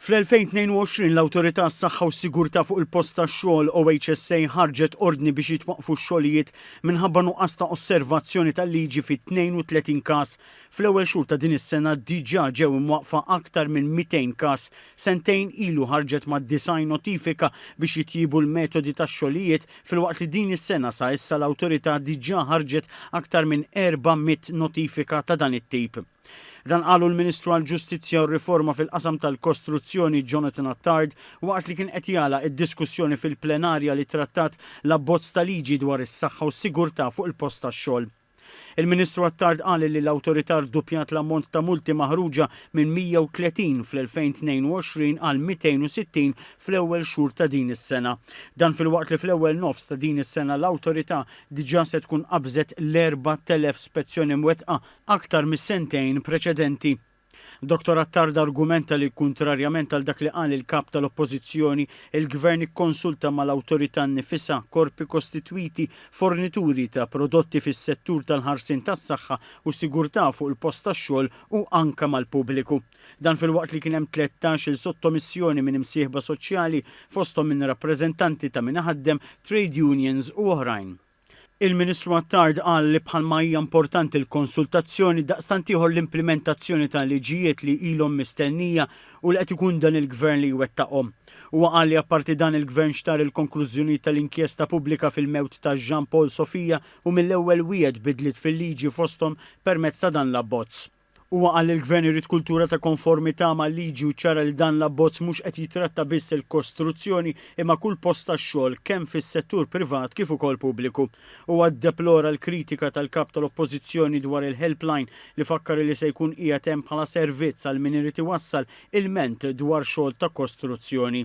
Fl-2022 l-Awtorità għas-Saħħa u s-Sigurtà fuq il-Post tax-Xogħol, OHSA, ħarġet ordni biex jitwaqqfu x-xogħlijiet minħabba nuqqas ta' osservazzjoni tal-liġi fi 32 każ. Fl-ewwel xhur ta' din is-sena diġà ġew imwaqqfa aktar minn 200 każ. Sentejn ilu ħarġet ma' 90 notifika biex jitjiebu l-metodi tax-xogħlijiet, filwaqt li din is-sena sa issa l-Awtorità diġà ħarġet aktar minn 400 notifika ta' dan it-tip. Dan qalu l-Ministru għall-Ġustizzja u r-Riforma fil-qasam tal-Kostruzzjoni Jonathan Attard waqt li kien qed jagħlaq id-diskussjoni fil-plenarja li trattat l-abbozz ta' liġi dwar is-saħħa u s-sigurtà fuq il-post tax-xogħol. Il-Ministru Attard qal li l-Awtorità rduppjat l-ammont ta' multi maħruġa minn 130 fl-2022 għal 260 fl-ewwel xhur ta' din is-sena. Dan filwaqt li fl-ewwel nofs ta' din is-sena l-Awtorità diġà se tkun qabżet l-4,000 spezzjoni mwettqa aktar mis-sentejn preċedenti. Dottor Attard argumenta li, kuntrarjament għal dak li qal il-Kap tal-Oppożizzjoni, il-Gvern ikkonsulta mal-Awtorità nnifisha, korpi kostitwiti, fornituri ta' prodotti fis-settur tal-ħarsien tas-saħħa u sigurtà fuq il-post tax-xogħol u anke mal-pubbliku. Dan filwaqt li kien hemm tlettax-il sottomissjoni minn imsieħba soċjali, fosthom minn rappreżentanti ta' min iħaddem, trade unions u oħrajn. Il-Ministru Attard qal li bħalma hija importanti l-konsultazzjoni, daqstant ieħor l-implimentazzjoni ta' liġijiet li ilhom mistennija u li qed ikun dan il-Gvern li jwettaqhom. Huwa qal li apparti dan il-Gvern xtarr il-konklużjonijiet tal-inkjesta pubblika fil-mewt ta' Jean Paul Sofia u mill-ewwel wiegħed bidliet fil-liġi fosthom permezz ta' dan l-abbozz. Huwa qal li l-Gvern irid kultura ta' konformità mal-liġi u ċċara li dan l-abbozz mhux qed jitratta biss il-kostruzzjoni imma kull post tax-xogħol kemm fis-settur privat kif ukoll pubbliku. Huwa ddeplora l-kritika tal-Kap tal-Oppożizzjoni dwar il-Helpline li fakkar li se jkun qiegħed hemm bħala servizz għal min irid iwassal ilment dwar xogħol ta' kostruzzjoni.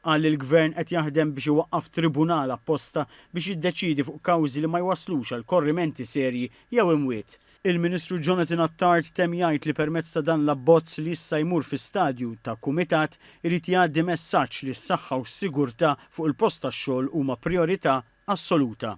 Qal li l-Gvern qed jaħdem biex iwaqqaf tribunal apposta biex jiddeċiedi fuq kawżi li ma jwasslux għal korrimenti serji jew imwiet. Il-Ministru Jonathan Attard temm jgħid li permezz ta' dan l-abbozz li issa jmur fi stadju ta' kumitat irid jgħaddi messaġġ li s-saħħa u s-sigurtà fuq il-post tax-xogħol huma prijorità assoluta.